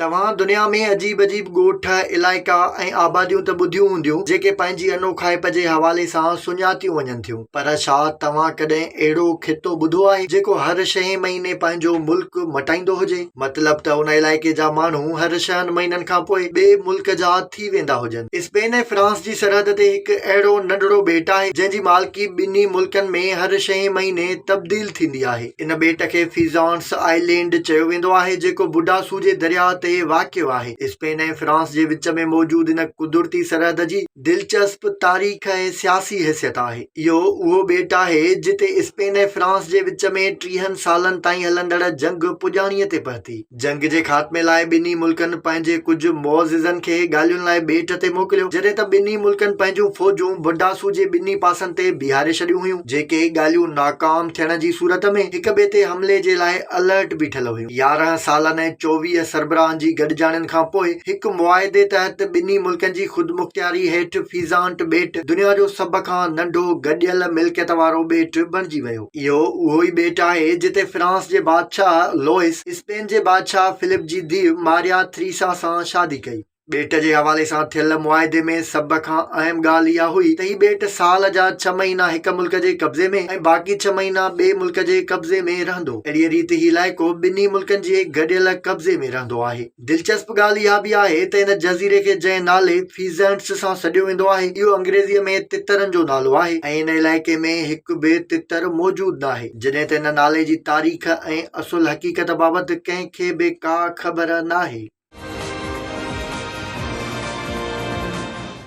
توهان دنيا ۾ عجيب عجيب ڳوٺ، علائقا ۽ آباديون ته ٻڌيون هونديون، جيڪي پنهنجي انوکائپ جي حوالي سان سڃاتيون وڃن ٿيون، پر ڇا توهان ڪڏهن اهڙو خطو ٻڌو آهي، جيڪو هر ڇهين مهيني پنهنجو ملڪ مٽائيندو هجي؟ مطلب ته ان علائقي جا ماڻهو هر ڇهن مهينن کان پوء ٻئي ملڪ جا ٿي ويندا هجن. اسپين ۽ فرانس جي سرحد تي هڪ اهڙو ننڍڙو ٻيٽ آهي، جنهن جي مالڪي ٻنهي ملڪن ۾ هر ڇهين مهيني تبديل ٿيندي آهي. ان ٻيٽ کي فيزانٽس آئلينڊ چيو ويندو آهي، جيڪو بوڊا سوجي درياهه تي واقع آهي. اسپين ۽ فرانس جي وچ ۾ موجود ان قدرتي سرحد جي دلچسپ تاريخ ۽ سياسي حيثيت آهي. اهو اهو ٻيٽ آهي، جتي اسپين ۽ فرانس جي وچ ۾ ٽيهن سالن تائين هلندڙ جنگ پڄاڻيء تي پهتي. جنگ جي خاتمي لاء ٻنهي ملڪن پنهنجي ڪجهه معززن کي ڳالهين لاء ٻيٽ تي موڪليو، جڏهن ته ٻنهي ملڪن پنهنجون فوجون بڊاسو جي ٻنهي پاسن تي بيهاري ڇڏيون هيون، جيڪي ڳالهيون ناڪام ٿيڻ جي صورت ۾ هڪ ٻئي تي حملي جي لاء الرٽ بيٺل هيون. يارهن سالن ۽ چوويهه سربراهن جي گڏجاڻين کان پوء هڪ معاهدي تحت ٻنهي ملڪن جي خودمختياري هيٺ فيزانٽ ٻيٽ دنيا جو سڀ کان ننڍو گڏيل ملڪيت وارو ٻيٽ بڻجي ويو. اهو اهو ئي ٻيٽ آهي جتي فرانس جي بادشاهه لوئس اسپين جي بادشاهه فلپ جي ڌيء ماريا ٿريسا سان شادي ڪئي. ٻيٽ جي حوالي سان ٿيل معاهدي ۾ سڀ کان اهم ڳالهه اها هئي ته هي ٻيٽ سال جا ڇهه مهينا هڪ ملڪ جي قبضي ۾ ۽ باقي ڇهه مهينا ٻئي ملڪ جي قبضي ۾ رهندو. اهڙيء ريت هي علائقو ٻنهي ملڪن جي گڏيل قبضي ۾ رهندو آهي. دلچسپ ڳالهه اها به آهي ته ان جزيري کي جنهن نالي Pheasants سان سڏيو ويندو آهي، اهو انگريزيء ۾ تترن جو نالو آهي ۽ ان علائقي ۾ هڪ به تتر موجود ناهي. جڏهن ته ان نالي جي تاريخ ۽ اصل حقيقت بابت ڪنهن کي به ڪا خبر ناهي.